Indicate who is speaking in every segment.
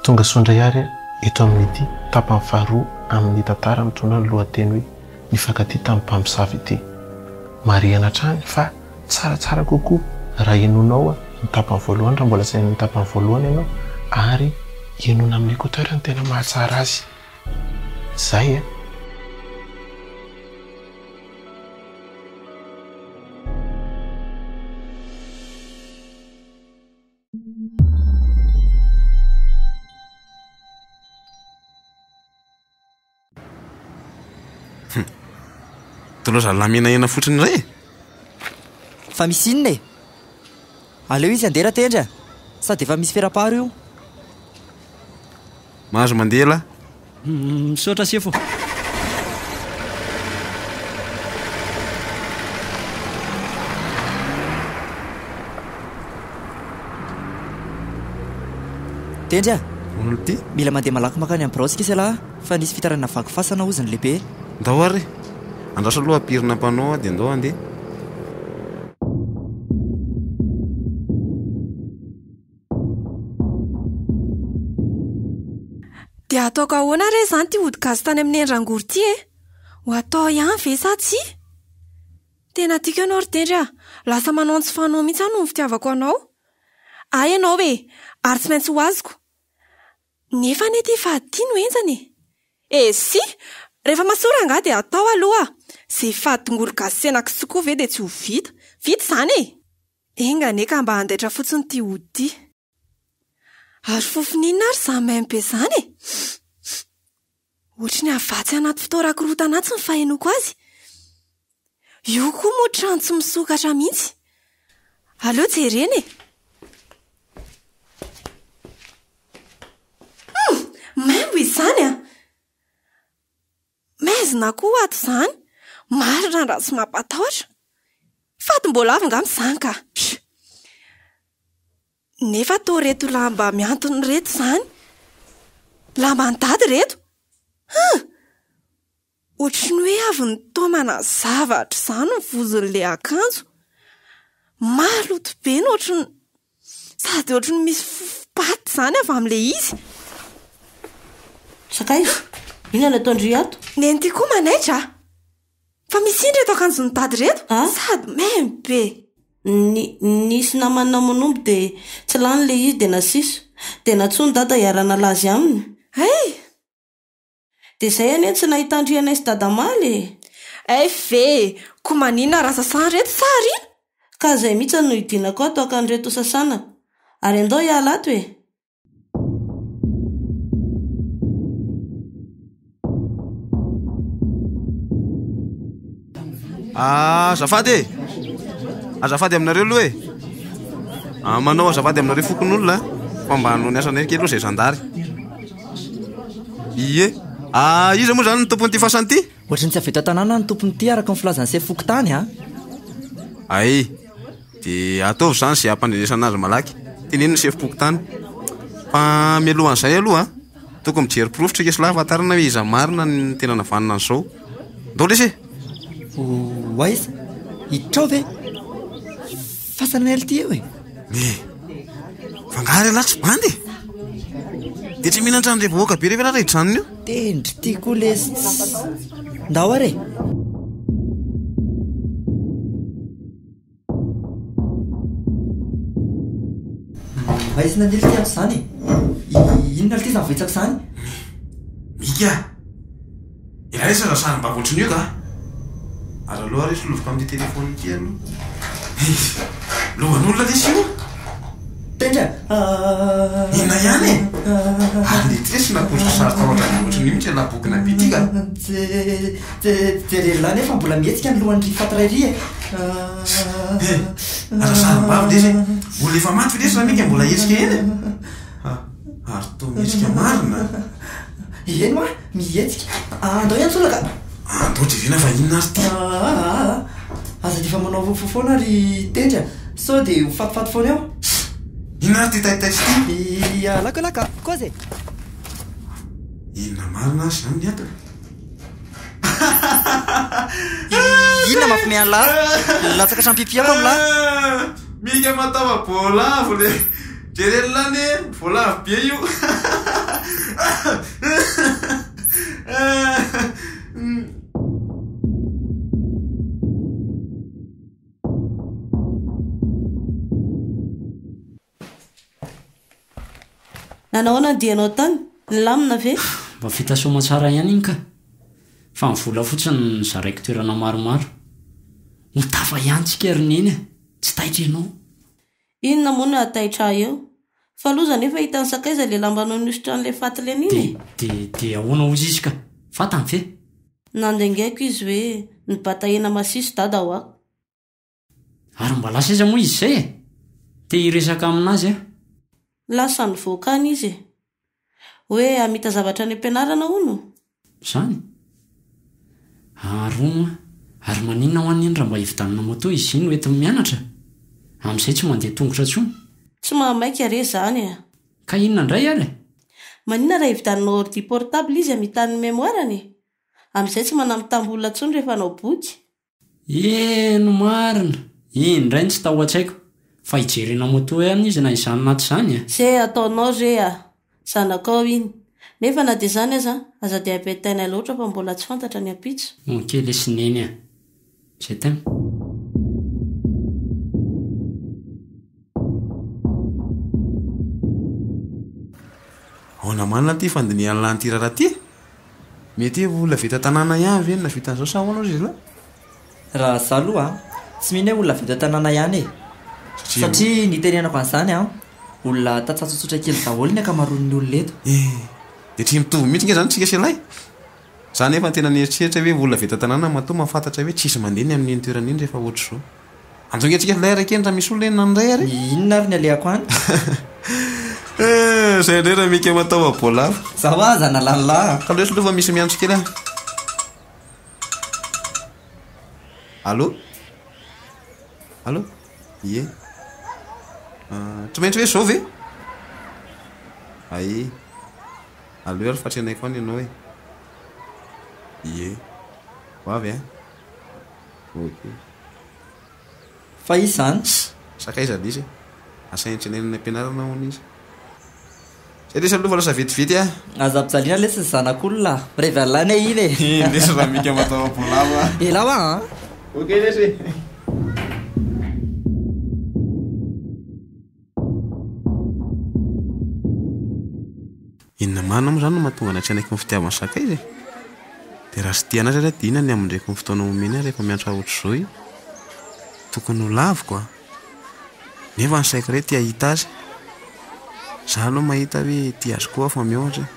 Speaker 1: Tonga soa indray ary eto amin'ity tapany faharoa amin'ny tantara mitondra ny lohateny hoe Nifankatia tamin'ny Mpamosavy ity. Marihana hatrany fa tsaratsara kokoa raha henoinao ny tapany voalohany raha mbola tsy naheno ny tapany voalohany ianao ary henoina amin'ny écouteur no tena mahatsara azy. Izay e!
Speaker 2: Tondra zalahy menahena fotsiny indray e!
Speaker 3: Fa misy inona e? Aleo izy handeha Ratendry a! Sady efa misy fera-paro io.
Speaker 2: Mahazo mandeha lah. Misaotra
Speaker 3: sefo. Tendry a!
Speaker 2: Mila mandeha malaky
Speaker 3: makany amin'ny birao isika se lah fa nisy fitarainana vaky fasana hozy ny lehibe. Ndao ary e!
Speaker 2: Andraso aloha pirina mpanao dia ndao handeha.
Speaker 4: Dia ataoko ahoana re izany ity ody gasy tany amin'ny endrangory ity e? Ho atao ihany ve sa tsia? Tena tiako ianao ry Tendry a! Lasa manao ny tsy fanao mihitsy aho noho ny fitiavako anao. Ahy ianao e! Ary tsy maintsy ho azoko. Nefa anie ity fahaditia no henjana e! Esy! Rehefa mahasoa rangahy dia atao aloha! Izay fady tongolo gasy sy hena kisoa koa ve dia tsy ho vita? Vita izany e! Enga anie ka mba handaitra fotsiny ity ody ity. Ary fofony inona ary izany maimbo be izany e? Ohatry ny havatsy anaty fitoeran-korontana atsy ny fahenoako azy. Io koa moa trano tsy misokatra mihitsy. Aleo jerena e! Humm! Maimbo izany an! Maizina koa ato izany. Marina raha tsy mampatahotra. Faty mbola avy angamba izany ka. Nefa toa ireto lamba mihantona ireto izany. Lamban'i Dada ireto. Huh! Ohatry ny hoe avy nitaomana zavatra izany ny vozon'ilay akanjo. Maloto be ny ohatry ny. Sady ohatry ny misy patte izany avy amin'ilay izy.
Speaker 5: Sakaiza? Inona no ataon-dry ato? Nenity koa manaitra
Speaker 4: a! Fa misy indry eto akanjon'i Dady ireto, sady main be. Ny,
Speaker 5: nisy namany namonombo dia tsy lany ilay izy dia nasiso. Dia nantsoin'i Dada hiara-nalazy aminy. Hay! Dia zay anie tsy nahitandrianay sy dadamaly e! FV,
Speaker 4: Ko manina ra sasany reto sa ariana? Ka zay mitsy
Speaker 5: no hidinako ato haka an'ireto ho sasana. Ary andao hiala ato e!
Speaker 2: Ah, azafady e Azafady aminareo aloha e ah, Manao azafady aminareo fokon'olona Fa mba hanao ny asana kely aloha zay zandary Ie Ah, iza moa zany ny tompon'ity fasana ity? Ohatry ny tsy avy eto an-tanàna
Speaker 3: ny tompon'ity araka ny filazan'ny sefo fokontany a ah. Ay,
Speaker 2: de ataovy zany zay hampandrenesana azy malaky Teneno ny sefo fokontany Fa mialohan'izay aloha Tokony mijery porofo triques lahy ahafantarana hoe iza marina ny tena navanona an'i zao. Ndao lesy e! Ho
Speaker 3: aiza? Hitrao ve? Fasana ela ity eo e! Eh! Fangaro
Speaker 2: ialahy tsy bandy e! Dia tsy mila ny tranondre vahoaka be rehefa ratra hijanona eo? Tendry ity koa
Speaker 3: lesy tsy. Ndao ary e! Maizina ny helika ato izany e! Inona ary ity izany voahitsaka izany?
Speaker 2: Mika! Iray seza sarim-bakontry ny yoga a! Ary aleo ary solovoka amin'ity telefaonina ity aloha. Lohan'olona lesy io! Tendra ah. Inona ihany e? Ary ny trisy napoiziko sary tao an-dRabe ohatran'io mihitsy ilay labokina be ity ka! Je, je, jerery
Speaker 3: lahy nefa mbola mihetsika ny lohan-dry Fatray ry e! Ah. Eh,
Speaker 2: aza sarim-bavy lesy e! Mbola efa maty lesy Ramika e, mbola hetsika eny e! Ah, ary toa mihetsika marina a!
Speaker 3: Eny hoa! Mihetsika. Aa andray aho tsolaka a! Andao jerena
Speaker 2: fa inona ary ity? Aa
Speaker 3: aza dia efa manao fofo foana ry Tendry a! Sao dia ho fatifaty foana eo? Inona ary ity
Speaker 2: taitaitra ity? Ii alako elah ka! Kozy
Speaker 3: e! Inona
Speaker 2: marina ary izany ny atiny? Ii
Speaker 3: inona mampimehy an'lah? Nilatsaka hatramin'ny pipi
Speaker 2: aho tamin'lah!
Speaker 3: Mika
Speaker 2: mataova-boalavo le!
Speaker 3: Jerena
Speaker 2: anie vao lavo be io
Speaker 5: ah. Nanao ahoana ny dianao tany? Nilamina ve? Mba vita soamatsara
Speaker 6: ihany iny ka. Fa ny vola fotsiny no zaraiko toerana maromaro. Ho tafa ihany tsika ry Neny a! Tsy taitra ianao. Inona
Speaker 5: moa no hahataitra ahy eo? Fa loza anefa hahita ny sakaiza ilay lamba nanosotra an'ilay faty Lenina e! Dia, dia, dia ahoana
Speaker 6: hozy izy ka? Fantany ve? Nandengaiko
Speaker 5: izy hoe, Ny batahena masiso Dada hoa!
Speaker 6: Ary mba lasa aiza moa izy izay e? Te hiresaka amin'azy aho. Lasa
Speaker 5: nivoaka any izy e! Hoe hamita zavatra any am-pianarana hono? Zany?
Speaker 6: Aharoa moa. Ary maninona ho an'iny raha mba hividanana moto izy iny hoentiny mianatra? Amin'izay tsy mandeha tongotra intsony. Tsy mahamaika
Speaker 5: re zany e! Ka inona indray
Speaker 6: ary? Maninona raha
Speaker 5: hividananao ordi portable izy hamitany ny memoire-ny? Amin'izay tsy manamitambo olona intsony rehefa hanao boky. Eny
Speaker 6: marina! Iny indray no tsy tao an-tsaiko. Fa hijerena moto ihany izy na izany na tsy izany e! Ze ataonao
Speaker 5: ze a! Zanakao iny. Nefa na dia izany aza, aza dia ampitaina loatra fa mbola tsy fantatra ny ampitso. Ok lesy Neny
Speaker 6: a! Je t'aime.
Speaker 2: Aona marina ity fandinihany lany ity raharaha ity? Mety hoe olona avy eto an-tanàna ihany ve no nahavita an'izao sa ahoana hoy izy ireo? Raha izaho
Speaker 3: aloha tsy mino hoe olona avy eto an-tanàna ihany e. Satria nitenenako an'izany an, olona tantsaha tsotsotra kely daholo ny ankamaroan'ny olona eto. Eh, dia tsy
Speaker 2: mitovy mihitsy ange izany isika sy ilay? Izaho anefa no tena nieritreritra hoe olona avy eto an-tanàna matoa mahafantatra hoe tsisy mandeha ny amin'iny toerana iny rehefa ohatr'izao. Anjao hiatrika an'ilay ary keny raha misy olona enina indray ary e! Inona ary ny alehako any?
Speaker 3: Izay
Speaker 2: indray raha mika mataova boalavo. Za hoa aza nalalà
Speaker 3: a! Kaloesy aloha fa misy miantso
Speaker 2: kely aho. Allô? Allô? Ie. Tsy maintsy hoe izao ve? Ae. Allô ary fa trenaiko any ianao e. Ie. Ho avy a! Ok.
Speaker 3: Fa izy zany tsy. Sakaiza indrisy e!
Speaker 2: Asa enjenaina any am-pianarana hono izy. Zay lesy aloha fa lasa vetivety ah! Aza ampijaliana
Speaker 3: lesy ny zanak'olona ah! Mirevy an'ilay anie iny e! Eny lesy Ramika
Speaker 2: mataova voalavo ah! Ela hoa an!
Speaker 3: Ok
Speaker 2: lesy e! Inona marina moa izany no mahatonga anay tsy hanaiky ny fitiavan'ny sakaiza e? Dia raha tsy tia an'asa ary aho dia inona ny hamindreko ny fotoana omeny ahy rehefa miantra ohatr'izao e? Tokony ho laviko a! Nefa ny saiko irery te hahita azy. Izaho aloha mahita hoe tia azy koa aho fa mihoatra e!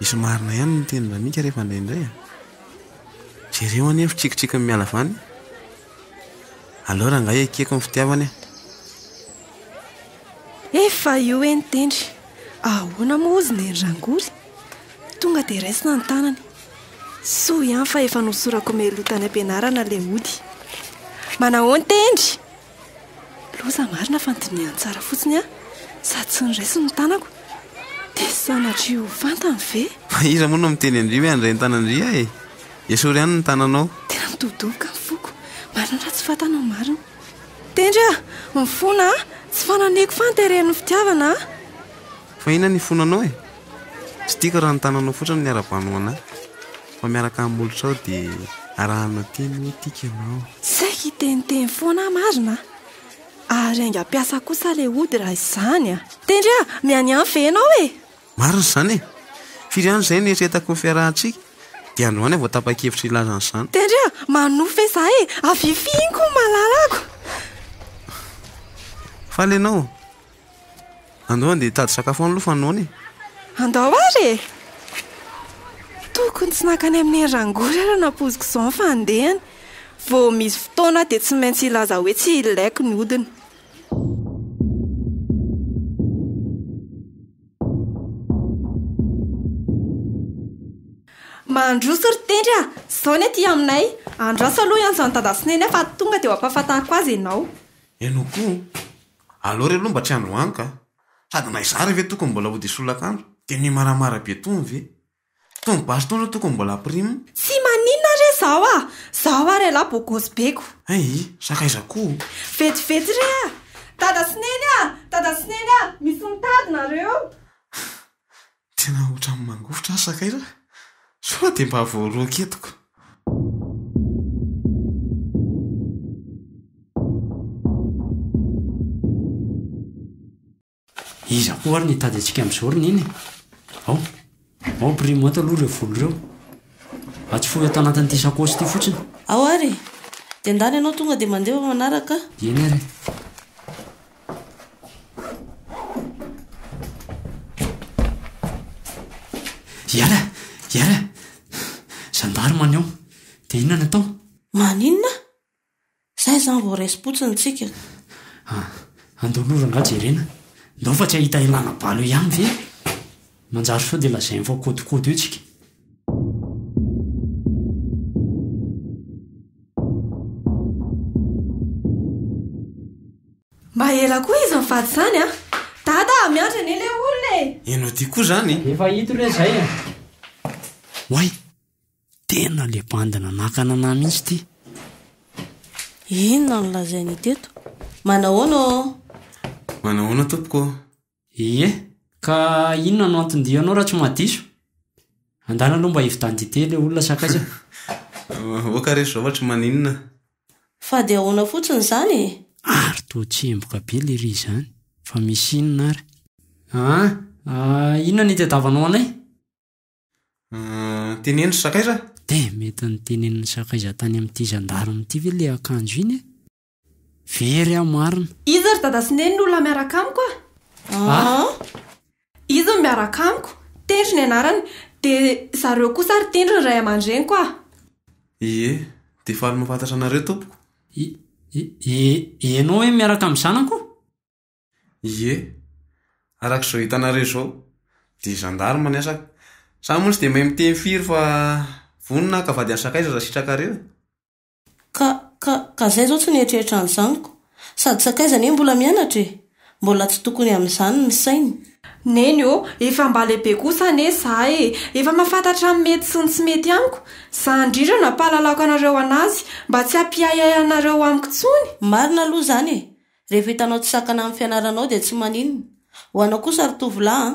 Speaker 2: Misy marina ihany ny tenin-dRamika rehefa indraindray a! Jereo anie ny fitsikitsikin'ny miala avy any! Aleo rangahy ekeko ny fitiavana e!
Speaker 4: Efa io e ny tendry! Ahoana moa hozy neny rangory? Tonga dia raisina ny tanany. Soa ihany fa efa nosorako meloa tany am-pianarana ilay ody. Manahoan tendry? Loza marina fa nodinihany tsara fotsiny aho sady tsy noraisiny ny tanako. Dia sanatria ho fantany ve? Fa iza moa no miteny
Speaker 2: an-dry hoe handray ny tanan-dry aho e? Esory ihany ny tananao. Tena midobodoboka
Speaker 4: ny foko. Marina raha tsy fantanao marina. Tendry a! Mifona a! Tsy fananeko fa ny teren'ny fitiavana a! Fa
Speaker 2: inona no ifonanao e? Tsy tiako raha ny tananao fotsiny no iarabanao an'ahy. Fa miaraka amin'ny molotrao dia arahana teny hoe tiako ianao. Tsy saiko hiteniteny
Speaker 4: foana aho marina a! Ary haingam-piasa kosa ilay ody raha izany a! Tendry a! Mianiany ve ianao e? Marina izany
Speaker 2: e! Firy ihany izay no eritreretako ny fiarahantsika? Dia androany aho vao tapa-kevitra hilaza an'izany. Dia ndry a! Manohy
Speaker 4: ve izaho e! Avifihiko ny malalako!
Speaker 2: Faly ianao? Andao handeha hitady sakafo any aloha fa noana e! Andao ary
Speaker 4: e! Tokony tsy nankany amin'ny neny rangory ary nampoiziko izao ny fandehany. Vao misy fotoana dia tsy maintsy hilaza hoe tsy ilaiko ny hodiny. Mandroso ry Tendry a! Izao ny aty aminay, andraso aloha hiantso an'i Dada sy Neny aho fa tonga dia ho ampahafantariko azy ianao. Ianao koa e!
Speaker 2: Aleo re aloha mba tsy androany ka! Sady na izaho re ve tokony mbola hody hisy solakandro? Dia ny maramara be tony ve? Tony basy tony atoko mbola prime. Tsy maninona
Speaker 4: re zaho ah! Zaho ary elah bogosy be ko! Aii! Sakaiza koa!
Speaker 2: Vetivety
Speaker 4: re ah! Dada
Speaker 2: sy
Speaker 4: Neny ah! Dada sy Neny ah! Misy mitady nareo!
Speaker 2: Tena ohatran'ny mangovitra aho sakaiza! Sao dia mba voaroaka eto ko!
Speaker 6: Iza koa ary no hitady antsika amin'izao ry Neny e? Ao, ao ampirimo ato aloha ireo vola ireo. Atsofoho eto anatin'ity sakaosy ity fotsiny. Ao ary e!
Speaker 5: Dia ndany ianao tonga dia mandeha fa manaraka aho. Eny ary e!
Speaker 6: Hiala! Hiala! Zandary maneho! Dia inona no atao? Maninona?
Speaker 5: Izay izany vao resim-potsiny tsika. Ah,
Speaker 6: andao aloha rangahy jerena, ndao fa tsy hahita ilana balo eo ihany ve? Manjary sao dia lazainy fa kôdikôdy eo tsika.
Speaker 4: Mba ela koa izy mivady izany an! Dada ah, miandry anie ilay olona e! Ianao ity koa izany
Speaker 2: e! Efa hita re izay
Speaker 6: an! Oay! Tena le bandy nanakana anah mihitsy ty. Inona
Speaker 5: no lazainy teto? Manahoana ô? Manahoana
Speaker 2: tompoko ô? Ie,
Speaker 6: ka inona no anton-dianao raha tsy mahadiso? Andana aloha mba hividan-dite le olona sakaiza.
Speaker 2: Oka re zao ohatry maninona? Fa dia
Speaker 5: ahoana fotsiny izany e? Ary toa
Speaker 6: tsemboka be le ry izany. Fa misy inona ary? Aa, inona ny itadiavanao anay? Ah,
Speaker 2: teneno ry sakaiza? Dia mety
Speaker 6: notenenin'ny sakaiza tany amin'ity zandarme ity ve ilay akanjo iny e? Very aho marina. Iza ry dada sy neny
Speaker 4: no olona miaraka amiko a? Ah? Iza no miaraka amiko? Tendro ny anarany. Dia zareo kosa ary Tendro ny ray aman-dreniko a! Ie,
Speaker 2: dia faly mahafantatra anareo tompoko. I, i,
Speaker 6: ianao hoe miaraka amin'ny zanako?
Speaker 2: Ie, araka izao hitanareo izao dia gendarme ny asako. Za moa tsy dia mahay miteny firy fa vonona aho ka vady any sakaiza raha sitrakareo e. Ka, ka,
Speaker 5: ka zay zao tsy nieritreritra an'izany ko. Sady sakaiza anie mbola mianatra e. Mbola tsy tokony amin'izany ny sainy. Neny ô,
Speaker 4: efa mba lehibe kosa anie za e. Efa mahafantatra ny mety sy ny tsy mety amiko. Za indrindra no hampahalalako anareo anazy mba tsy hampiahiahy anareo amiko intsony. Marina aloha izany e.
Speaker 5: Rehefa hitanao tsy sakana amin'ny fianaranao dia tsy maninona. Ho anao kosa ry tovolahy an!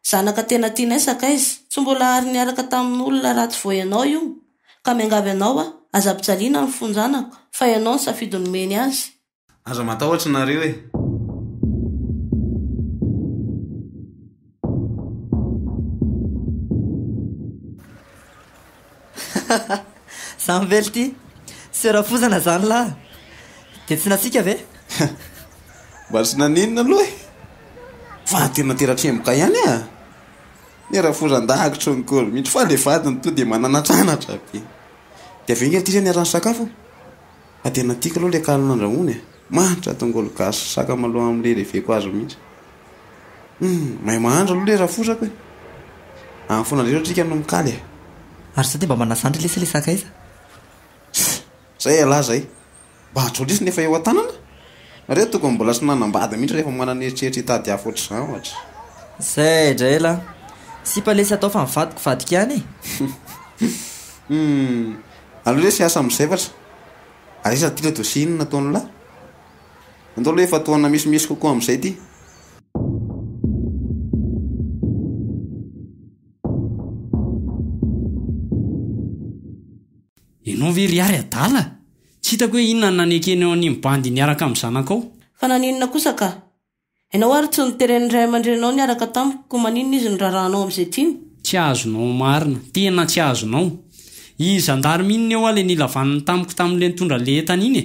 Speaker 5: Zanaka tena tianay sakaiza. Tsy mbola ary niaraka tamin'olona ratsy vao ianao io ka miangavy anao aho, aza ampijaliana ny fonjanako fa ianao ny safidy nomeny azy. Aza matahotra
Speaker 2: nareo e!
Speaker 3: Za mively ty tsy rafozana zany lah de tsy natsika ve?
Speaker 2: Mba tsy naninona aloha e! Fa tena tera-tremboka ihany ah! Ny rafozan-dahakitry ny kolo mihitsy fa le vadiny tonga de mananatranatra be. De avy eo nge ty re niaraha nisakafo? Fa tena tiako aloha ilay kaly nandrahoany e! Mahantra tongolo gasy sy sakamalaho amin'ilay reveko azy mihitsy. Humm! Mahay mahandro aloha ilay rafozako e! Any foana indray Ratrika no mikaly e! Ary za dia mba
Speaker 3: manasa andry lesy ilay sakaiza.
Speaker 2: Zay ialahy zay. Mba ajory lesy ny efa eo an-tanana. Nareo tokony mbola tsy nanambady mihitsy rehefa manana eritreritra hitady afo ohatr'izany ohatra. Zay
Speaker 3: indray ialahy. Sipa lesy atao fa ny vadiko vadiko ihany e! Humm!
Speaker 2: Aleo lesy hiasa amin'ny zavatra. Ary iza ity le dosie iny nataon'lah? Andao aloha efa taona misimisy kokoa amin'izay ity.
Speaker 6: Ianao ve ry Ary adala? Tsy hitako hoe inona no nanekeny eo animo bandy niaraka amin'ny zanakao? Fa naninona kosa
Speaker 5: ka? Ianao ary tsy noteren' ny ray aman-dreninao niaraka tamiko, koa maninona izy no rarahanao amin'izay tiany? Tsy azonao
Speaker 6: marina. Tena tsy azonao. Iny zandary mino ny eoa le nilavaniny tamiko tamin'le nitondra an'le entana iny e!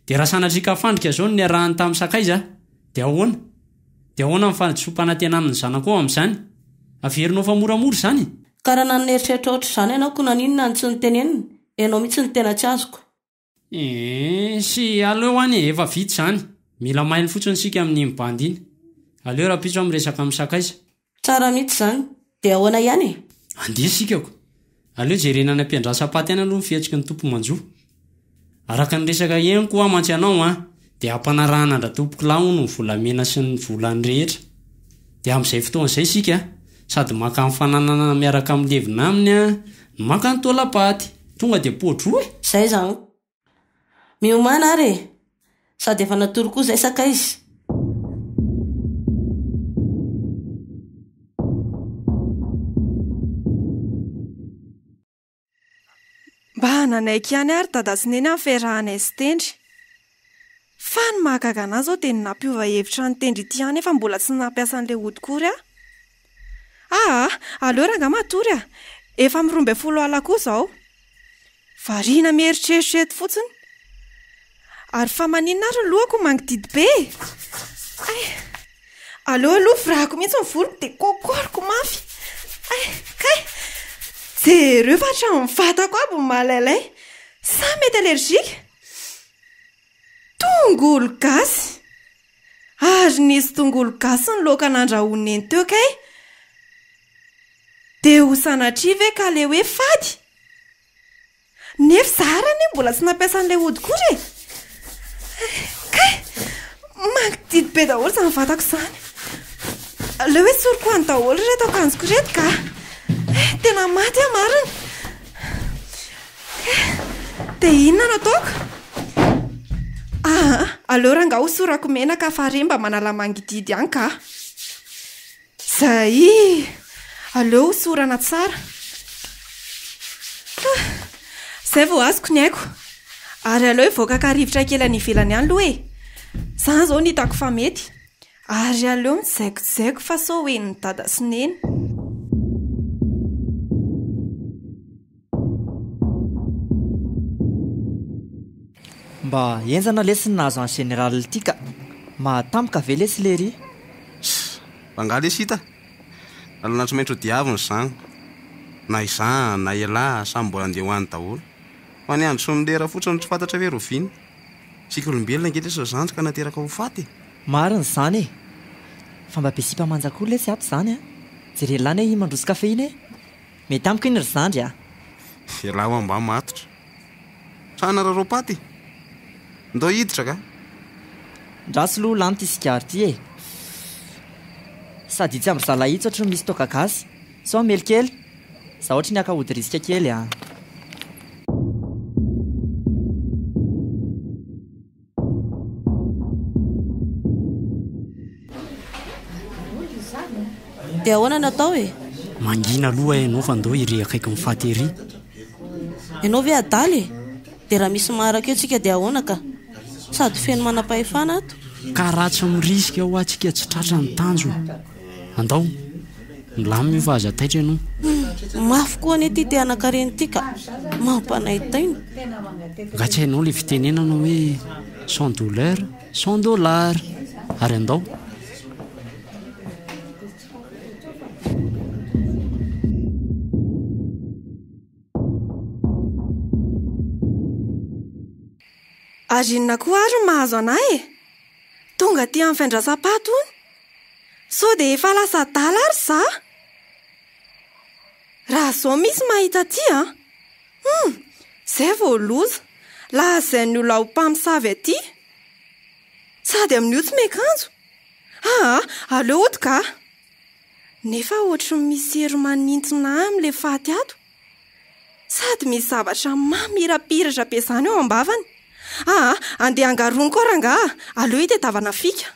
Speaker 6: De raha sanatria ka fandrika zao no niarahany tamin'ny sakaiza de ahoana? De ahoana ny fahadisoam-panantenan'ny zanakao amin'izany? Averinao fa moramora izany e! Ka raha nanana
Speaker 5: eritreritra ohatr'izany ianao koa naninona no tsy nitenenina? Ianao mihitsy no tena tsy azoko. Eehh
Speaker 6: sy aleo any efa vita izany, mila mailo fotsiny isika amin'iny bandy iny. Aleo rahampitso aho miresaka amin'ny sakaiza. Tsara mihitsy izany.
Speaker 5: Dia ahoana ihany e? Andeha isika ko!
Speaker 6: Aleo jerena any am-piandrasam-paty any aloha ny fihetsiky ny tompo manjo. Araka ny resaka henoko hoa mantsy ianao an! Dia hampanarahana an-dRatompokolahy hono ny volamena sy ny volany rehetra. Dia amin'izay fotoana izay isika sady maka ny fananana miaraka amin'ny levona aminy no maka ny taolam-paty. Tonga dia poa-droa e! Izay izany.
Speaker 5: Miomàna ary e! Sady efa natory koa izay sakaiza.
Speaker 4: Mba nanaiky ihany ary Dada sy Neny ny fiarahanay sy Tendry. Fa ny mahagaga an'ahy izao dia ny nampiova hevitra an'i Tendry ity ihany nefa mbola tsy nampiasa an'ilay ody kory aho. Aa! Aleo ranga matory a! Efa amin'ny roa ambin'ny folo alina koa izao. Variana mieritreritra eto fotsiny. Ary fa maninona ary ny lohako mangididy be e? Ay! Aleo aloha virahako mihitsy ny voloko dia kôkôriko mafy. Ay! Kay! Jereo fa hatramin'ny vatako aby ny malailay. Sa mety allergique? Tongolo gasy! Ary nisy tongolo gasy ny laoka nandrahoin'i Neny teo kay! Dia ho sanatria ve ka ilay hoe fady? Nefa za ary anie mbola tsy nampiasa an'ilay ody kory e! Kay! Mangidihidy be daholo izany vatako izany. Aleo esoriko any daholo ireto akanjoko ireto ka! Tena maty aho marina! Dia inona no ataoko? Aa! Aleo rangaha hosorako menaka fa re mba manala mangidihidy ihany ka! Zay! Aleo hosorana tsara. Ah! Zay vao azoko ny aiko. Ary aleo hivoaka ka rivotra kely any ivelany any aloha e! Zany zao no hitako fa mety. Ary aleo mijaikojaiko fa sao ho henon'i Dada sy Neny.
Speaker 3: Mba enjana lesy ny nahazo an'i général ity ka! Mahatampoka ve lesy lery? Ssss!
Speaker 2: Angaha lesy hita? Lalana tsy maintsy hodiavina izany! Na izaho na ialahy samy mbola andeha ho any daholo! Fa ny andro sy ny lera fotsiny no tsy fantatra ve ry oviana? Isika olombelona ange lesy ry zandry ka nateraka ho faty e! Marina izany e!
Speaker 3: Fa mba be sipa manja koa lesy ato izany a! Jereo lahy anie i mandroso café iny e! Mety amiko iny ry zandry a! Velao
Speaker 2: ambany matotra. Sa hanararaoa paty e? Ndao hiditra ka!
Speaker 3: Ndraso loha lany ty sigaro ty e! Sady itsy am ry zalahy itsy ohatry ny misy toaka gasy. Sao mely kely? Za ohatry ny haka hody risika kely a!
Speaker 5: Dia ahoana no atao e? Mangina
Speaker 6: aloha ianao fa ndao iry akaiky ny faty iry. Ianao
Speaker 5: ve adala e? Dia raha misy maharaka eo tsika dia ahoana ka? Sady feno manam-pahefana ato. Ka raha tsy
Speaker 6: mirisika hoa tsika tsy tratra ny tanjona. Andao! Milamina io fa aza taitra ianao. Humm! Mafy koa
Speaker 5: anie ity te hanankarena ity ka! Mampanaitaina!
Speaker 6: Nga tsy hainao ilay fitenenana hoe sans douleur, sans dollars! Ary andao!
Speaker 4: Ary inona koa ary no mahazo anà e? Tonga aty amin'ny fiandrasam-paty hono Sao dia efa lasa adala ary izaho? Raha izao misy mahita aty an! Humm! Izay vao loza! Lazain'io laolo mpamosavy aty. Sady amin'io tsy miakanjo. Aa! Aleo hody kah! Nefa ohatry ny misy hery manintona ahy amin'ilay faty ato. Sady misy zavatra mamirapiratra be izany ao am-bavany. Aa! Andeha angaroniko aho rangahy a! Aleo itadiavana fika.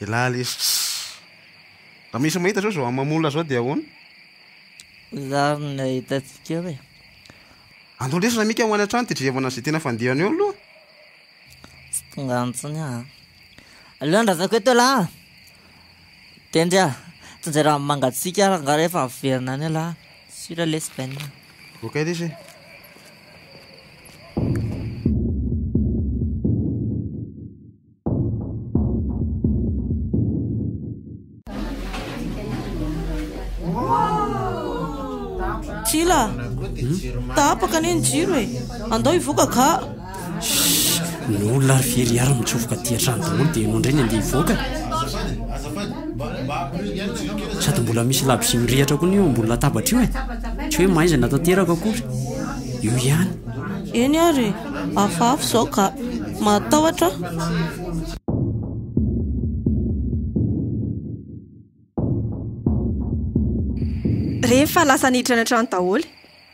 Speaker 2: Elah lesy Raha misy mahita zao zao mamola zao dia ahoana?
Speaker 7: Zary ny ahitantsika eo e. Andao
Speaker 2: lesy Ramika ho any an-trano dia jerevana izay tena fandehany eo aloha.
Speaker 7: Tsy tonga antsony aho. Aleo andrazako eto elah. Tendry ah! Tsinjera amin'ny mangatsiaka ary angaha rehefa averina any elah sur l'Espagne. Voakay lesy e.
Speaker 5: Tsila, tapaka anie ny jiro e, andao hivoaka ka. Shhh!
Speaker 6: Ny olona ary very ary mitsofoka aty an-trano daholo dia ianao indray ny andeha hivoaka e! Sady mbola misy labozia mirehatra koa anie eo ambony latabatra io e! Tsy hoe mahaizana tanteraka akory! Eo ihany! Eny ary e!
Speaker 5: Hafahafa izao ka! Mahatahotra aho!
Speaker 4: Rehefa lasa niditra ny an-trano daholo.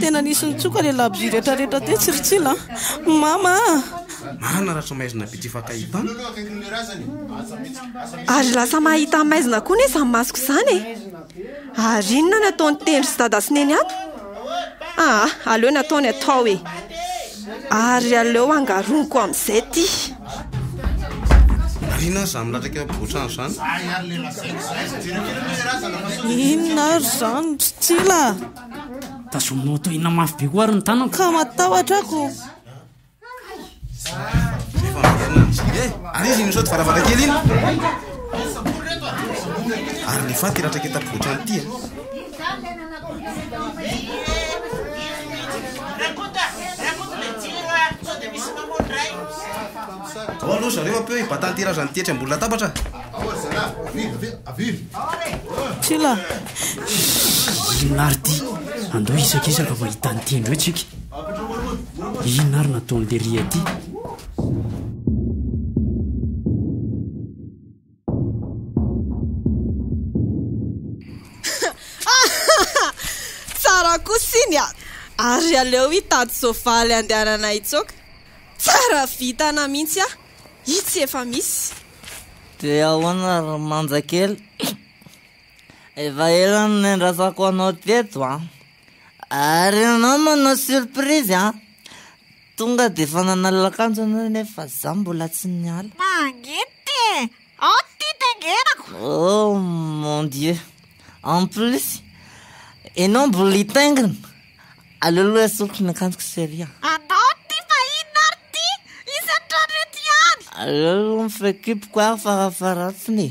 Speaker 5: Tena nisy nitsoka le labozia rehetra rehetra teo tsiritsila an! Mama a! Marina
Speaker 2: Ratramaizina Bitsy efa akaiky tany.
Speaker 4: Ary lasa mahita an'i Maizina koa nesa ny masoko izany e! Ary inona no ataon'i Tendry sy Dada sy Neny ato? Aa! aleo ny ataony atao e! Ary aleo angaroniko amin'izay ity.
Speaker 2: Marina aza amin'ny latraka eo am-povoantrano izany.
Speaker 5: Inona ary izany ry Tsila a!
Speaker 6: Tazominao toy inona mafy be koa ary ny tanako. Ka matahotra ako.
Speaker 5: Efa
Speaker 2: miverina ny Tsila e! Ary izy iny misaoty varavarankely iny. Ary le faty ratraka eto am-povoantrano ity a! Ao aloha zareo ampeo i Batanty Razany ity etsy ambony latabatra.
Speaker 5: Tsila!
Speaker 6: Inona ary ity? Andao hisakisaka mahita an'ity indreo tsika. Inona ary nataon'i Lery aty?
Speaker 4: Tsara kosa iny a! Ary aleo hitady soavaly handehanana hitsoaka. Tsara vintana mihitsy aho. Itsy efa misy. Dia
Speaker 7: ahoana ry Manjakely? Efa ela no niandrasako anao teto an! Ary ianao manao surprise an! Tonga dia efa nanalina akanjo ianao nefa fa izaho mbola tsy niala. Mangidy e!
Speaker 8: Ao ny tia taingenako! Oh
Speaker 7: mon Dieu! En plus, ianao mbola hitaingina? Aleo aloha esoriko ny akanjoko chérie a! Anao no tia fa
Speaker 8: inona ary ity? Isan'ny trano eto ihany! Aleo aloha mifehy
Speaker 7: kiboko aho farafaharatiny e!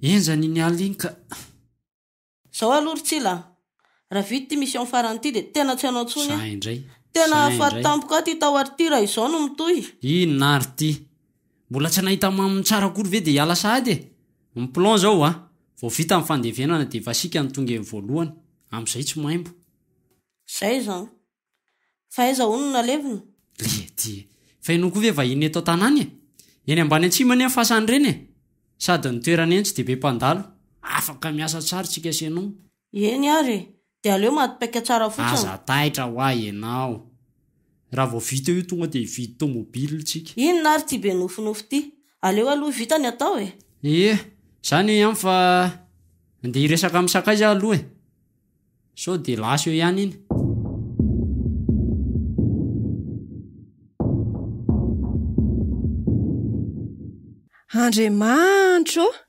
Speaker 6: Enjany iny alina iny ka.
Speaker 5: Zao aloha ry Tsila a! Raha vita ity mission farany ity dia tena tsy hanao intsony aho. Tena
Speaker 6: faty
Speaker 5: tampoka aho ity tao ary ity raha izao no mitohy. Inona ary ity?
Speaker 6: Mbola tsy nahita maminy tsara akory ve dia hiala sahady e! Ny plan izao hoa, vao vita ny fandevenana dia efa isika no tonga eny voalohany, amin'izay tsy maimbo. Izay
Speaker 5: izany. Fa aiza hono no nalevina? Lety!
Speaker 6: Fa ianao koa ve vahiny eto an-tanàna e! Eny ambany Antsimo anie ny fasan'ireny e! Sady ny toerana eny tsy dia be mpandalo, afaka miasa tsara tsika sy ianao. Eny ary e!
Speaker 5: Dia aleo madipaika tsara fotsiny. Aza taitra hoa
Speaker 6: ianao. Raha vao vita io tonga dia hividy tomobile tsika. Inona ary ity be
Speaker 5: nofinofy ity. Aleo aloha vita ny atao e. Ie,
Speaker 6: izany eo ihany fa ndeha hiresaka amin'ny sakaiza aho aloha e. Sao dia lasa eo ihany iny.
Speaker 4: Andriamanitra ô!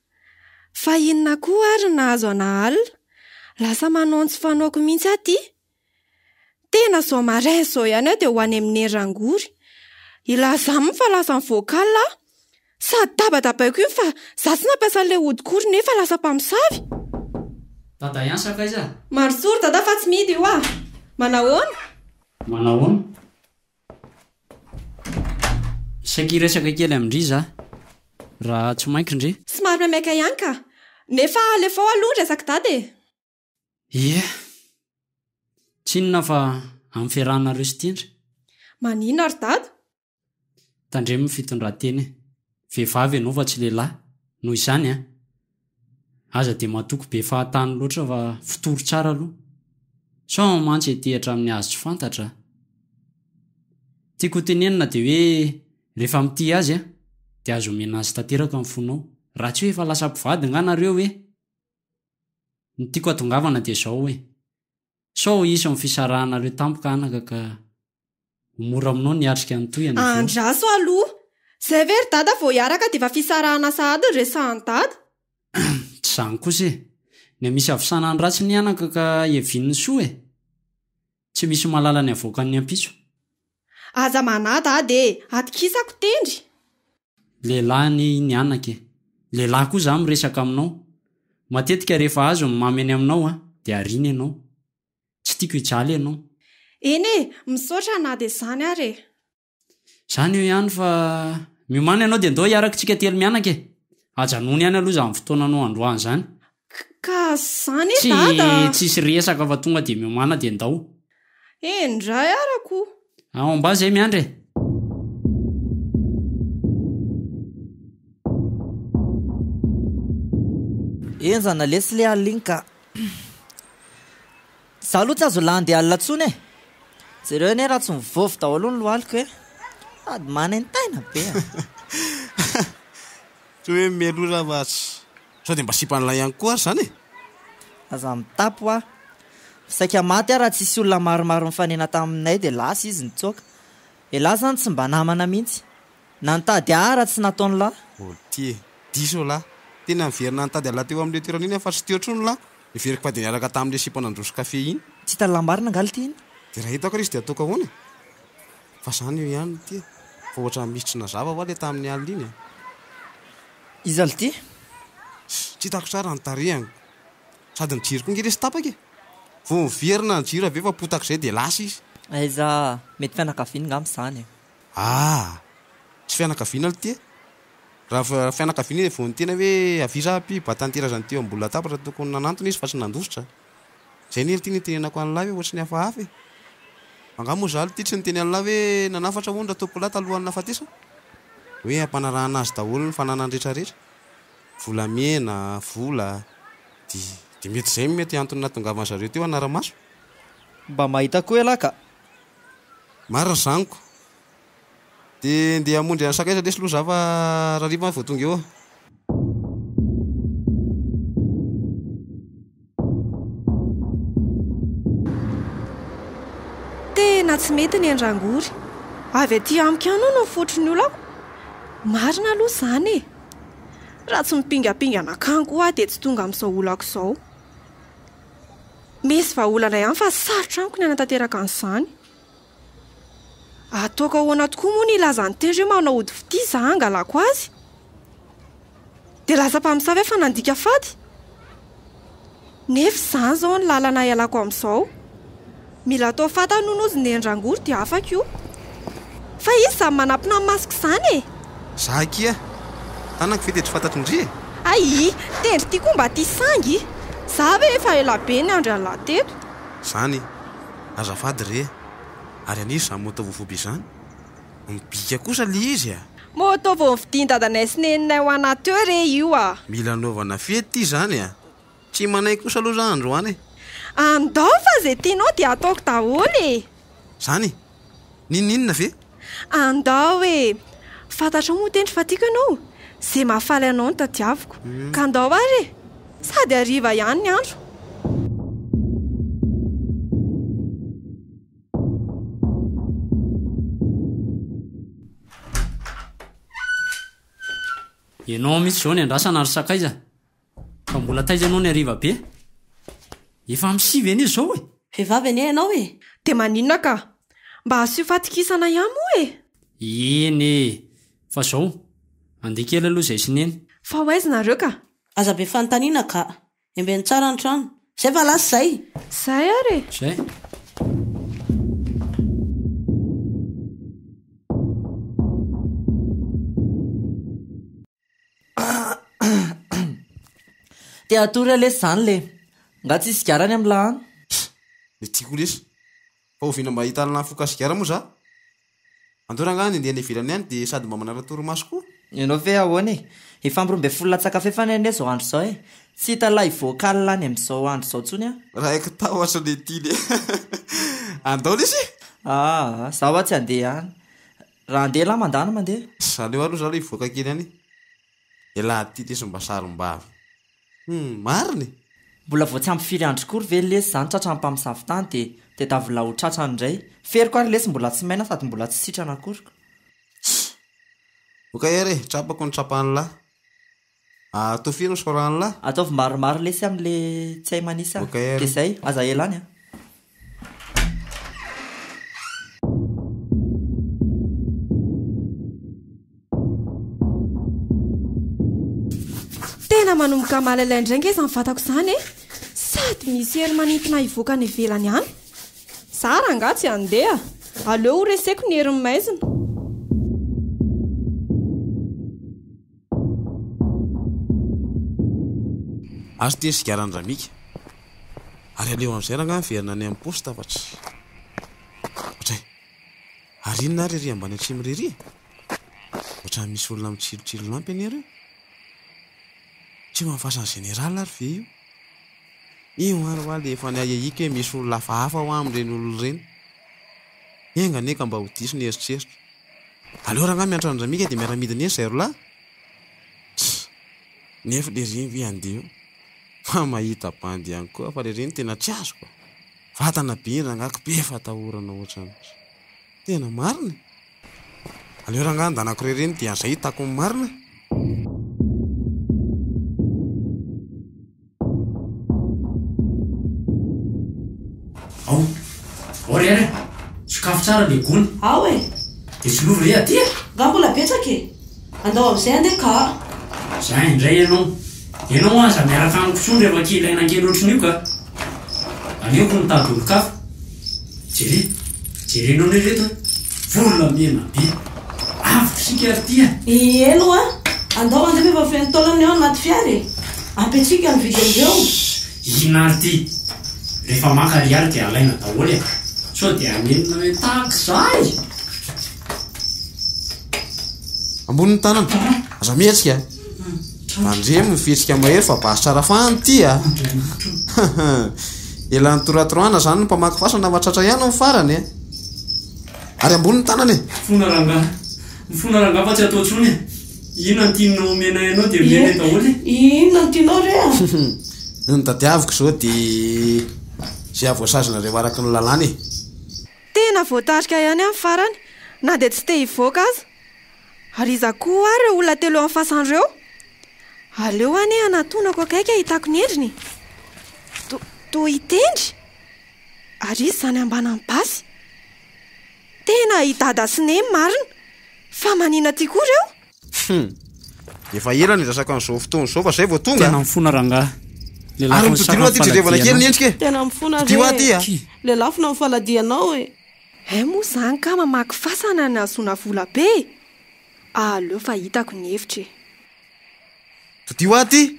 Speaker 4: Fa inona koa ary no nahazo an'Aal? Lasa manao tsy fanaoko mihitsy aho ity. Tena izao maraina izao ihany aho dia ho any amin'i Hery Rangory. Hilaza aminy fa lasa nivoaka alina aho. Sady dabadabaiko iny fa izaho tsy nampiasa an'ilay hodikoriny nefa lasa mpamosavy.
Speaker 6: Dada ihany sa akaiza? Mandrosoa ry Dada fa
Speaker 4: tsy mety io ah! Manahoana?
Speaker 6: Manahoana? Saika hiresaka kely amin-dry za raha tsy mainko ndry. Somary maimaika ihany ka.
Speaker 4: Nefa alefao aloha ny resak'i Dada e! Ie.
Speaker 6: Tsy inona fa amin'ny fiarahanareo sy Tendry. Maninona
Speaker 4: ry Dada?
Speaker 6: Tandremo ny fitondran-tena e! Vehivavy ianao fa tsy lehilahy, noho izany an! Aza dia matoky be fahatany loatra fa fitory tsara aloha sao aho mantsy ety hatramin'ny azy tsy fantatra a! Tiako ho tenenina dia hoe rehefa mitia azy aho dia aza omena azy tanteraka ny fonao raha tsy hoe efa lasa mpivady nga nareo e! Ny tiako hatongavana dia izao e! Sao ho hisy amin'ny fisarahanareo tampoka anaka ka ho mora aminao ny hiatrika ny tohiny avy eo. Andraso aloha!
Speaker 4: Izay ve ry dada vao hiaraka dia efa fisarahana sahady no resahan'i dada? Tsy
Speaker 6: izany kosa e! Ny hamisy havosana ny ratsy ny anaka ka hevian'ny soa e! Tsy misy malala ny havoakan'ny ampitso. Aza
Speaker 4: manada ah de atokisako tendry. Lehilahy
Speaker 6: anie iny anaka e. Lehilahy koa za miresaka aminao. Matetika rehefa azo ny mamy eny aminao a de ariana ianao. Tsy tiako hijaly ianao. Eny e,
Speaker 4: misaotra na de zany ary e. Zany
Speaker 6: eo ihany fa miomana ianao de ndao hiaraka tsika telo mianaka e. Ajanony ihany aloha zany fotoananao androany zany. Kka
Speaker 4: zany e dada a! Tsy tsisy resaka fa
Speaker 6: tonga dia miomana dia ndao. Eny ndra
Speaker 4: arako o! Ao ambany zay
Speaker 6: miandry e!
Speaker 3: Enjana lesy le alina iny ka. Za aloha tsy azo landy alina intsony e! Jereo anie raha tsy mivovo daholo ny lohaliko e! Sady manentaina be a!
Speaker 2: Toa hoe mimelora aho atsy. Sao dia mba sipan'ilay ihany koa ary izany e? Aza
Speaker 3: mitapy hoa. Saika maty aho raha tsy hisy olona maromaro nifanena taminay dia lasa izy nitsoaka. Elah izany tsy mba namana mihitsy. Na nitady ahy ara tsy nataony lah. Oltie.
Speaker 2: Diso ho lah. Tena niverina nitady anlah teo amin'ilay toerana iny aho fa tsy teo intsony lah. Niveriko fa dia niaraka tamin'ilay sipa nandroso kafe iny. Tsy hitan'ny lah marina angaha
Speaker 3: ilty iny? Dia raha hitako ary izy dia
Speaker 2: hataoko ahoana e? Fa izany eo ihany oltie. Fa ohatran'ny misy tsy nazava hoa ilay tamin'ny alina iny a.
Speaker 3: Iza lty? Tsy
Speaker 2: hitako tsara ny tarehany. Sady ny jiro koa nge lesy tapaka e! Vao miverina ny jiro avy eo fa potak'izay dia lasa izy. Aiza?
Speaker 3: Mety fianakaviany ngamba izany e! Aah!
Speaker 2: Tsy fianakaviana lty e! Raha fianakaviana izy dia vao niteny hoe avia izaho ampio, ba tanterazany teo ambony latabatra tokony nanantona izy fa tsy nandositra. Zay anie ity nitenenako an'lah hoe ohatry ny hafahafa e! Angaha moa zalo ity tsy niteny an'lah hoe nanafatra hono Ratompolahy talohan'ny nahafatesany? Hoe hampanarahana azy daholo ny fananany rehetra rehetra? Volamena, vola, dia mety zay no mety antony nahatongavany zareo teo hanara-maso? Mba
Speaker 3: mahita koa elah ka!
Speaker 2: Marina zaniko! Dia ndeha hamonjy an'i Sakay izy lesy loza fa rariva vao tonga eo.
Speaker 4: Tena tsy mety ny an-dRangory. Avy aty amiko ihany hono ny fototry ny olako. Marina aloha izany e. Raha tsy mipingapinga nankany koa aho dia tsy tonga amin'izao olako izao. Misy vahaolana ihany fa sarotra amiko ny hanatanteraka an'izany. Ataoko ahoana tokoa moa ny hilaza ny teny hoe manao ody fitia izaho hangalako azy? Dia lasa mpamosavy aho fa nandika fady? Nefa izany izao no lalana hialako amin'izao. Mila atao fantany hono ozy neny rangory dia afaka io. Fa izy izany manampina ny masoko izany e! Za akia,
Speaker 2: tanako ve dia tsy fantatry ndry e? Ayy!
Speaker 4: Tendry ity koa mba tia sangy! Za ve efa ela be niandry an'lah teto? Zany e!
Speaker 2: azafady re a! Ary an'iza izany moto vovoby izany? Mibika kosa ilay izy a! Moto vao
Speaker 4: novidian'i dadanay sy neninay ho anà teo re io a! Mila anaovana
Speaker 2: fety ity izany a! Tsy manaiky kosa aloha za androany e! Andao
Speaker 4: fa izay tianao dia ataoko daholo e! Izany?
Speaker 2: N'inon'inona ve? Andao
Speaker 4: e! Fantatrao moa tendry fa tiako ianao? Ze mahafaly anao no tadiaviko. Ka andao ary e! Sady hariva ihany ny andro.
Speaker 6: Ianao mihitsy izao ny andrasana ry sakaiza. Fa mbola taiza ianao ny hariva be? Efa amin'ny sivy anie izao e! Vehivavy anie ianao e!
Speaker 5: Dia maninona ka?
Speaker 4: Mba asio fatokisana ihany moa e! Eny e!
Speaker 6: Fa izao, andeha kely aloha izahay sy Neny. Fa ho aiza nareo ka?
Speaker 4: Aza be fanontaniana
Speaker 5: ka! Embeno tsara ny trano. Izay fa lasa izay! Izay ary e!
Speaker 4: Izay!
Speaker 3: Te hatory aho lesy zany le. Nga tsisy sigara any am la an? Pff! Le
Speaker 2: tiako lesy. Fa oviana mba ahitanana afoka sigara moa za? Andao rangahy ny andeha any ivelany any dia sady mba manala torimaso koa. Ianao
Speaker 3: ve ahoana e? Efa am roa ambin'ny folo latsaka fefy any anie zao andro zao e! Tsy hita lay vocal any am zao andro zao tsony an! Raiky tahotra le
Speaker 2: ty le. Andao lesy e! Aa, za hoa
Speaker 3: tsy andeha any. Raha andeha lahy mandany mandeha. Tsy aleo aloha zah aloha hivoaka
Speaker 2: kely any elah ty lesy mba sarombavy humm marina e! Mbola
Speaker 3: vao tsy ampy firy andro kory ve lesy zany tratran'ny mpamosavy tany dia dia davolà ho tratrany indray. Feriko ary lesy mbola tsy maina sady mbola tsy sitrana akory ko. Tss!
Speaker 2: Ok ery e, trapako ny trapan'lah. Ah toa firy ny sorany lah? Ataovy maromaro lesy am
Speaker 3: le tsy hay manisa Ok a. De zay, aza
Speaker 2: ela any
Speaker 3: a.
Speaker 4: Tena manomboka malailay indray nge izany vatako izany e. Sady misy hery manintona hivoaka any ivelany any. Za rangaha tsy handeha. Aleo ho reseko ny herin'ny maizina.
Speaker 2: Azo ity sigaran'i Ramika. Ary aleho amin'izay rangahy miverina any amin'ny poste fa tsy. Ohatray. Ary inona ary ery ambany atsimo irery e? Ohatran'ny misy olona mitsilotsilo lampy anie ireo. Tsy eo amin'ny fasan'ny général ary ve io? Io ary ho'a le efa niahiahiko hoe misy olona hafahafa ho'a amin'ireny olona ireny. Enga anie ka mba ho diso ny eritreritro. Aleo rangahy miantra an'i Ramika dia miara midina eny zahay roa lahy. Tss. Nef le reny ve andeha eo fa mahita bandy ihany koa fa le reny tena tsy azoko a. Vatana be iny rangahy ko be fatahorana ohatran'ny. Tena marina e. Aleo rangahy andanako re reny dia zay hitako ny marina.
Speaker 6: Ao. Ao re ary a! Sokafy tsara le gony. Ao e!
Speaker 5: Dia solovo re
Speaker 6: aty a! Nga mbola betsaka
Speaker 5: e! Andao amin'izay andeha ka a! Za indray
Speaker 6: ianao. Ianao aza miaraka amiko intsony rehefa kely aina kely ohatrin'io ka! Aleoko mitady olon-kafa. Jereo, jerenao ne reto an! Volamena be! Avy isika ary ity an! Eny wa!
Speaker 5: Andao mandeha fa efa feno taolana eo anaty fiara e! Ampiantsika ny vidin-dreo! Shh! Inona ary
Speaker 6: ity? Rehefa maka ariary dia alaina daholo e! Sao dia hanenina hoe tahaka izahay?
Speaker 2: Ambony ny tanana. Aza mihetsika a! Mandremo ny fihetsika mahery fa basy tsara fahany ity a! Ela nitoratorana zany ny mpamaky fasana fa tratra ihany ny farany e! Ary ambony ny tanana e! Mifona rangaha,
Speaker 6: mifona rangaha fa tsy atao intsony e! Inona no tianao omenay anao dia omenay daholo e! Inona no tianao
Speaker 5: re a! Ny notadiaviko
Speaker 2: izao dia izay hahavoasazinareo araka ny lalàna e! Tena
Speaker 4: voatarika ihany amin'ny farany na dia tsy te hivoaka aza. Ary iza koa ho'a reo olona telo eo am fasany reo? Aleo anie hanatonako akaiky hahitako ny endriny e! To, toa hitendry? Ary izy zany ambanan'ny basy? Tena i Dada sy Neny marina! Fa manina ty koa reo?
Speaker 2: Hum! Efa ela niresaka an'izao fotoana izao fa zay vao tonga? Tena mifona rangaha!
Speaker 6: Ary
Speaker 2: mitodilo aty jerevana kely ny endrika e! Tena mifona re! Mitodilo
Speaker 5: aty
Speaker 2: a! Lelafina ny
Speaker 5: faladianao e! Hay moa izany
Speaker 4: kah mamaky fasana ny hahazoana vola be e! Aleo fa hitako ny efitra e!
Speaker 2: Fidio aho ty!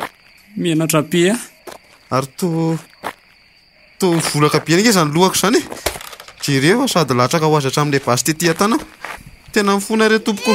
Speaker 2: Menatra
Speaker 6: be aho. Ary toa
Speaker 2: toa mivolaka be ange izany lohako izany e! Jereo fa sady latsaka ho azy hatramin'ilay basy tety an-tanako. Tena mifona re tompoko.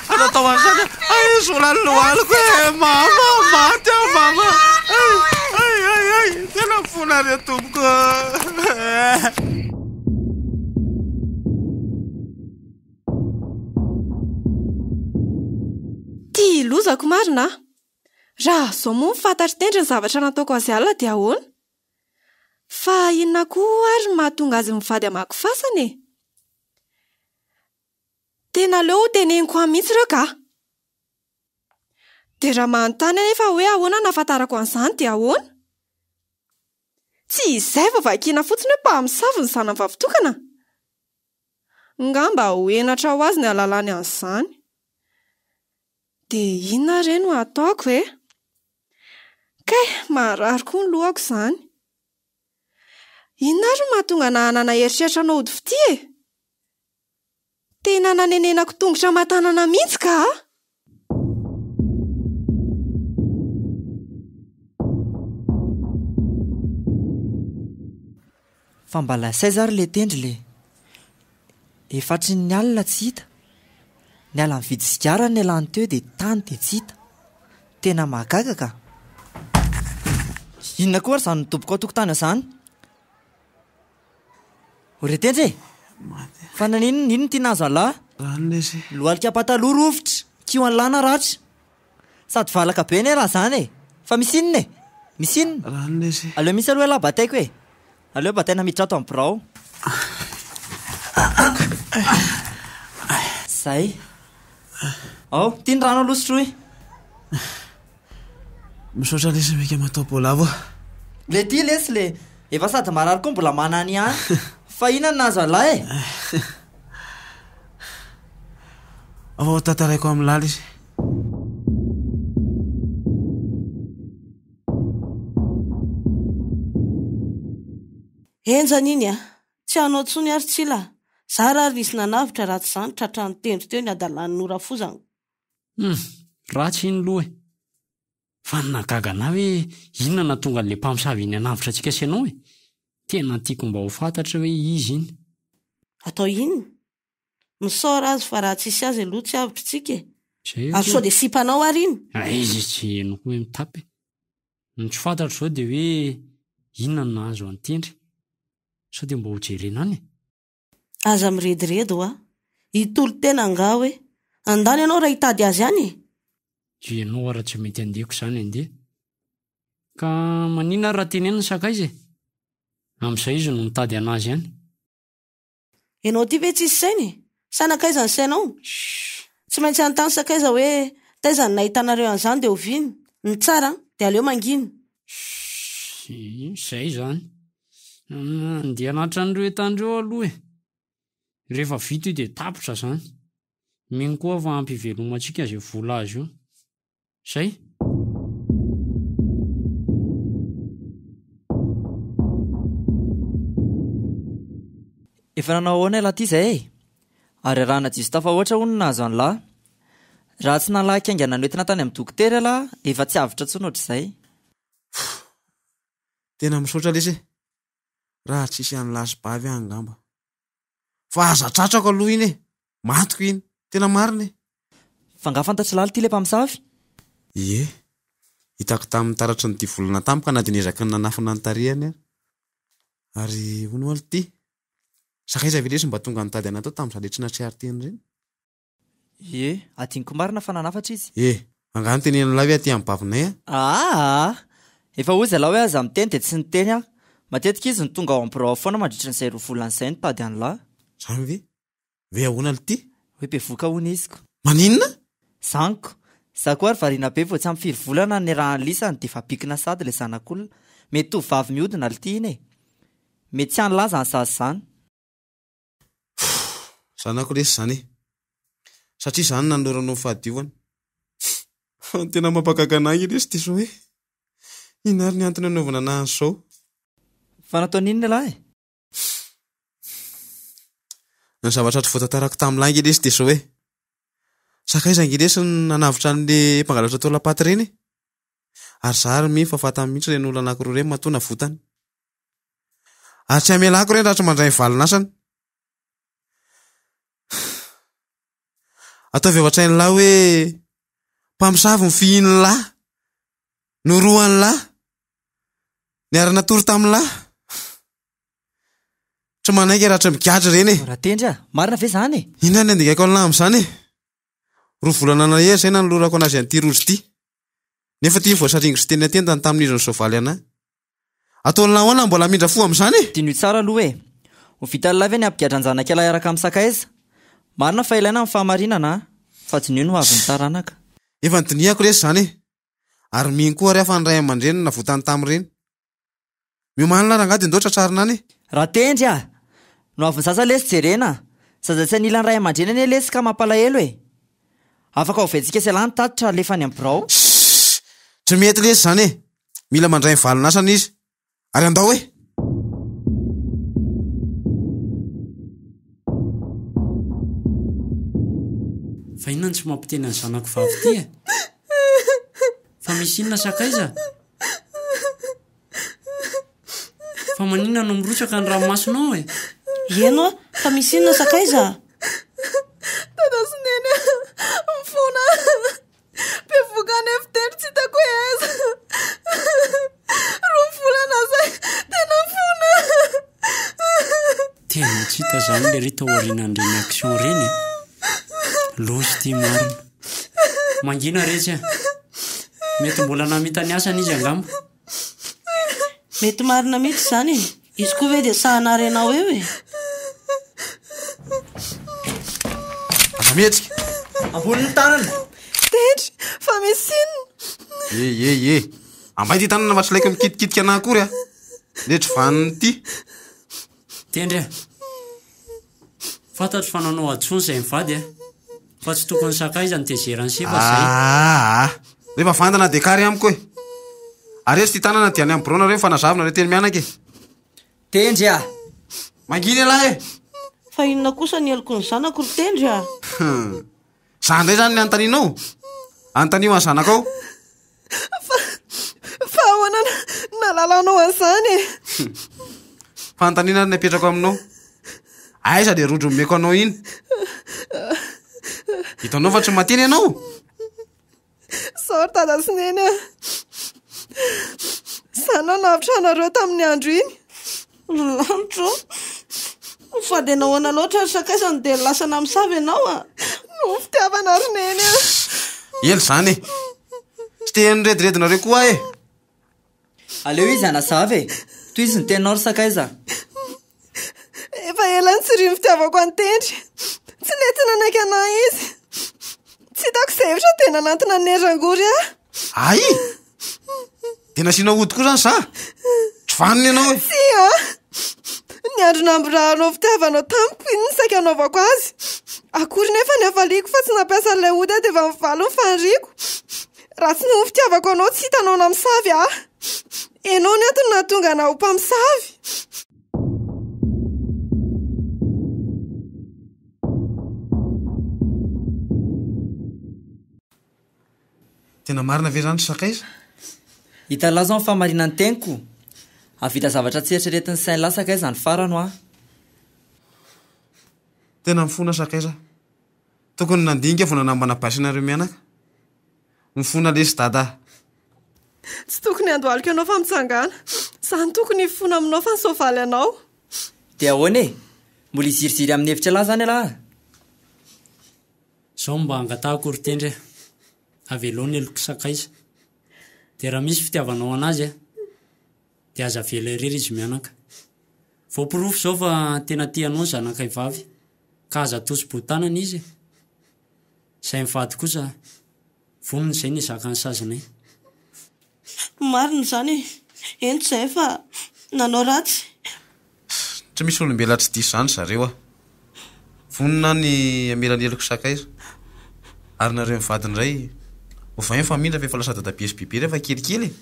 Speaker 2: Tsy natao ho an'izany aho. Hay izy mbola ny lohaloko e! Eh, mama, maty aho mama! Hay, hay, hay, hay! Tena fona re tompoko!
Speaker 4: Eh. lozako marina aho. Raha izao moa ny fantatry tendry ny zavatra nataoko azy alina dia ahoana? Fa inona koa ary mahatonga azy mivady amako fasana e? Tena aleo ho teneniko any mihitsy ireo kah! Dia raha manontany anefa aho hoe ahoana no ahafantarako an'izany dia ahoana? Tsy izay vao vakiana fotsiny hoe mpamosavy ny zanany vavitokana? Ngamba ho henatra ho azy ny hahalalany an'izany. Dia inona re no hataoko e? Kay, marary koa ny lohako izany. Inona ary no mahatonga anà hanana eritreritra hanao ody fitia e? Tena nanenenako tongotra aman-tanana mihitsy ka a!
Speaker 3: Fa mba lasaiza ary le tendry le. Efatry ny alina tsy hita. Niala nividy sigara nialany teo dia tany dia tsy hita. Tena mahagaga ka. Inona koa ary izany midobokao tokontany izany? Re tendry e! Fa naninona? Inona ity nahazo an'lah? Lohalika pataloha rovitra, kiho an'lah naratra. Sady valaka be anie raha izany e! Fa misy inona e? Misy inona? Aleo misy aloha elah bataiko e! Aleo bataina miditra ato amin'ny birao. Izay. Ao, ity ny rano aloha sotroy.
Speaker 2: Misaotra lesy meka matao bolavo a. Le ty
Speaker 3: lesy le efa sady marary koa mbola manana ihany fa inona no nahazo alahy e.
Speaker 2: Afa ho tantaraiko amin'ny lala izy.
Speaker 5: Enjana iny a! Tsy hanao intsony ary Tsila a! Zara ary nisy nanavotra raha tsy izany tratran'ny tendro teo ny hadalan'ny ora fozana Hum!
Speaker 6: Ratsy iny loha e! Fa ny nahagaga anah hoe inona nahatonga an'ilay mpamosavy iny hanavotra antsika sy anao e! Tena tiako mba ho fantatry hoe izy iny. Atao
Speaker 5: inona? Misaora azy fa raha tsisy azy aloha tsy avotry tsika e! Ary sao dia sipanao ary iny? Hay izy tsy henoko
Speaker 6: hoe mitapy e! Ny tsy fantatro izao dia hoe inona no nahazo an'i Tendry? Sao dia mba ho jerena any e! Aza
Speaker 5: mirediredy hoa. Hitolo tena angaha hoe. Andany ianao raha hitady azy any e! Dia ianao
Speaker 6: ara tsy mety handeko izany andeha. Ka maninona ary raha teneno ny sakaiza e! Amin'izay izy no mitady an'azy any.
Speaker 5: Ianao ity ve tsisy saina e! Sa nankaiza ny sainao? Shh! Tsy maintsy hanontany sakaiza hoe taiza no nahitanareo an'izany dia oviana? Ny tsara an! Dia aleo mangina. Shh! Izay
Speaker 6: izany. Andeha anatitra an'ireo entana ireo aloha e! Rehefa vita io dia tapitra izany. Mino koa aho fa hampivelomantsika izay vola azo io. Izay!
Speaker 3: Efa nanao ahoana ilay Tisa e? Ary arahana Jistafa hoatra hono ny nahazo an'la. Raha tsy nalaky haingana noentina tany amin'ny dokotera ilay dia efa tsy avotra intsony hoatr'izay.
Speaker 2: Tena misaotra lesy e. Raha tsisy an'i lasibavy aho angamba. Fa aza tratrako aloha iny e. Mantiko iny. Tena marina e. Fa nga
Speaker 3: fantatry lalo ty le mpamosavy? Ie.
Speaker 2: Hitako tamin'ny taratry ny divolana tamiko ka na dia niezaka ny nanafina ny tarehiny ary. Ary hono alo ty. Sakaiza ve lesy mba tonga nitady anatao tamin'izany le tsy nahatsiaro teny ireny?
Speaker 3: Ie, adinoko marina fa nanafatra izy. Ie, angaha notenenin'ilay
Speaker 2: hoe aty amin'ny bavinay an? Aa!
Speaker 3: Efa hoy izalah hoe aza miteny dia tsy niteny aho. Matetika izy no tonga ao amin'ny birao ao foana mandritra an'izay roa volana izay ny mpady an'lah. Izany ve?
Speaker 2: Hoe ahoana l'ty? Hoe bevoka hono izy
Speaker 3: ko. Maninona?
Speaker 2: Izany ko!
Speaker 3: Izaho koa ary variana be vao tsy ampy firy volana no niarahan'i lisany dia efa bikina sahady ilay zanak'olona. Mety tovovavy mihodina l'ty iny e! Mety tsy any laza any sazy izany. Pff!
Speaker 2: Zanako lesy izany e! Satria izaho no nanolorana anao ny fahadiovana. Fa ny tena mampagaga an'ahy anie lesy dia izao hoe, inona ary ny antony anaovana an'ahy an'izao? Fa
Speaker 3: nataony inona lahy? Pff!
Speaker 2: Ny zavatra hatry voatantarako tamin'ny lahy ange lesy dia izao hoe, sakaiza ange lesy ny nanavotra an'le mpangalatra tao Lapaty ireny e! Ary izaho ary mino fa fantany mihitsy ireny olona anankiroa ireny matoa navotany. Ary tsy hamelako ireny raha mandray ny valin'asany. Ataovy ao an-tsain'lah hoe mpamosavy ny fihinin'ny lahy, norohan'ny lahy, niara-natory tamin'ny lahy. Tsy manaiky raha tsy migadra ireny e. Ratendry ah, marina ve
Speaker 3: izany e? Inona ny andingaiko an'lah
Speaker 2: amin'izany e? Roa volana nahery izay nanolorako an'azy an'ity rojo ity. Nefa ity voasaringotra teny an-tendany tamin'izy ny soavaly an'ahy. Ataony nahoana mbola hamindra fo amin'izany e? Diniho tsara aloha e!
Speaker 3: Ho vitan'ilay ve ny hampigadra an-janak'ialahy hiaraka amin'ny sakaiza? Marina fa ilaina ny fahamarinana an! Fa diniho ny hoavin'ny taranaka. Efa nodinihako
Speaker 2: lesy izany e! Ary mino koa ary aho fa ny ray aman-dreny no navotany tamin'ireny. Miomanina ary angaha dia ndao tratrarina any e! Ratendry a!
Speaker 3: Ny hoavin'ny zaza lesy jerena a! Zaza tsy anila ny ray aman-dreny anie lesy ka mampalahelo e! Afaka oventsika sy ialahy ny tatitra alefa any amin'ny birao. Shhh!
Speaker 2: Tsy mety lesy izany e! Mila mandray ny valin'asany izy. Ary andao e!
Speaker 6: Fa inona no tsy mampiteny ny zanako vavy ity e? Fa misy inona sakaiza? Fa maninona no mirotsaka ny ranomasonao e? Ieno a!
Speaker 5: Fa misy inona sakaiza? Dada sy
Speaker 4: Neny mifoana. Bevoka any efitrano tsy hitako hoe aiza. Roa volana zay tena fona.
Speaker 6: Tena tsy hita zany le ry tao aorianan'ireny action ireny. Loza ity marina. Mangina retsy a. Mety mbola namita ny asany izy angamba.
Speaker 5: Mety marina mihitsy izany e. Izy koa ve dia saha narenao eo e?
Speaker 2: Aza mihetsika. Ambonin'ny
Speaker 3: tanana. Tendry,
Speaker 4: fa misy inona? Ye ye ye. Ambay
Speaker 2: ty tanana fa tsy laiko mikitikitika anah akory a. Nedry vaniny ty.
Speaker 6: Tendry a! Fantatro fa nanao ady foana izay mivady a! Fa tsy tokony sakaiza ny tezera ny sipa izay. Aa!
Speaker 2: Rehefa vandana dia kary amiko e! Areso ity tanana dia any amin'ny biraonareo ny fanazavinareo teny mianaka e! Tendry
Speaker 3: a!
Speaker 2: Mangina ialahy e! Fa inona
Speaker 5: kosa ny heloky ny zanako ry Tendry a!
Speaker 2: Za ndray zany ny antaninao? Antanio an zanakao?
Speaker 4: Fa ahoana nalalanao an'izany e? Fanontaniana
Speaker 2: ary ny apetrako aminao. Aiza le rojo meko anao iny? Hitanao fa tsy mateny ianao?
Speaker 4: Sao ry dada sy neny a! Zany no navotra anareo tamin'ny andro iny. Ry lanitra
Speaker 5: ô! Fa dia nahoana loatra ary sakaizany no dia lasa namosavy ianao a! Noho ny
Speaker 4: fitiavana ry neny a! Ela
Speaker 2: izany e! Tsy te hanirediredinareo koa aho e!
Speaker 3: Aleo izy hanazava e! Tohizo ny teninao ry sakaiza!
Speaker 4: Efa ela nitsirio ny fitiavako an'i Tendry. Tsy nety nanaiky an'ahy izy. Tsy hitako izay hevitra dia nanantona an'i Hery Rangory aho. Ay!
Speaker 2: Dia nasiana ody koa izany za? Tsy vanona ianao e! Tsia!
Speaker 4: Ny andro namborahanao fitiavanao tamiko iny ny saika anaovako azy. Akory nefa ny hafaliako fa tsy nampiasa an'ilay ody aho dia efa nivalony ny faniriako. Raha tsy noho ny fitiavako anao tsy hitanao namisavy ahy Ianao no antony nahatonga anah ho mpamosavy
Speaker 2: Tena marina ve izany ry sakaiza? Italao
Speaker 3: izao ny fahamarinan'ny teniko. Hahavita zavatra tsy eritreretin'ny sain lahy sakaiza ny farany hoa.
Speaker 2: Tena mifona sakaiza. Tokony nandinika vao nanambana basy nareo mianaka. Mifona lesy dada.
Speaker 4: Tsy tokony handohalika anao fa mitsangàna. Za no tokony hifona aminao fa ny soavaly anao. Dia ahoana
Speaker 3: e? Mbola hiziriziry amin'ny hevitra lahy izany ialahy a!
Speaker 6: Izao no mba hangatahako ry Tendry a! Avelao ny helok'i Sakaiza. Dia raha misy fitiavanao anazy a! Dia aza avela irery izy mianaka. Voaporofo izao fa tena tia anao ny zanakay vavy, ka aza atosi-bohotanana izy e! Izay mivady kosa, vonona izay ny hizaka ny sazinay. Marina
Speaker 5: izany e! Hento izahay fa nanao ratsy.
Speaker 2: Tsy misy olombelona tsy diso izany zareo a! Vonona aho ny hamela ny heloko sakaiza. Ary nareo mivady indray, ovaio ny famindra fa efa lasa dadabe sy bebe rehefa kelikely e!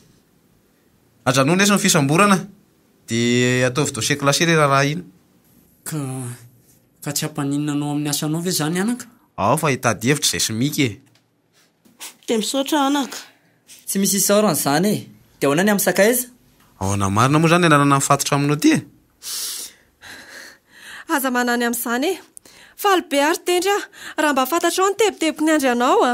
Speaker 2: Ajanony lesy ny fisamborana dia ataovy dossier classé le raharaha iny. Ka
Speaker 6: ka tsy hampaninona anao amin'ny asanao ve izany anaka? Ao fa hitady
Speaker 2: hevitra izay simiky e!
Speaker 5: Dia misaotra anaka. Tsy misy
Speaker 3: isaorana izany e! Dia ahoana ny amin'ny sakaiza? Ahoana marina
Speaker 2: moa izany ny anarana mifatotra aminao ity e?
Speaker 4: Aza manany amin'izany e! Faly be ary tendry aho raha mba fantatrao ny tebiteboky niandry anao a!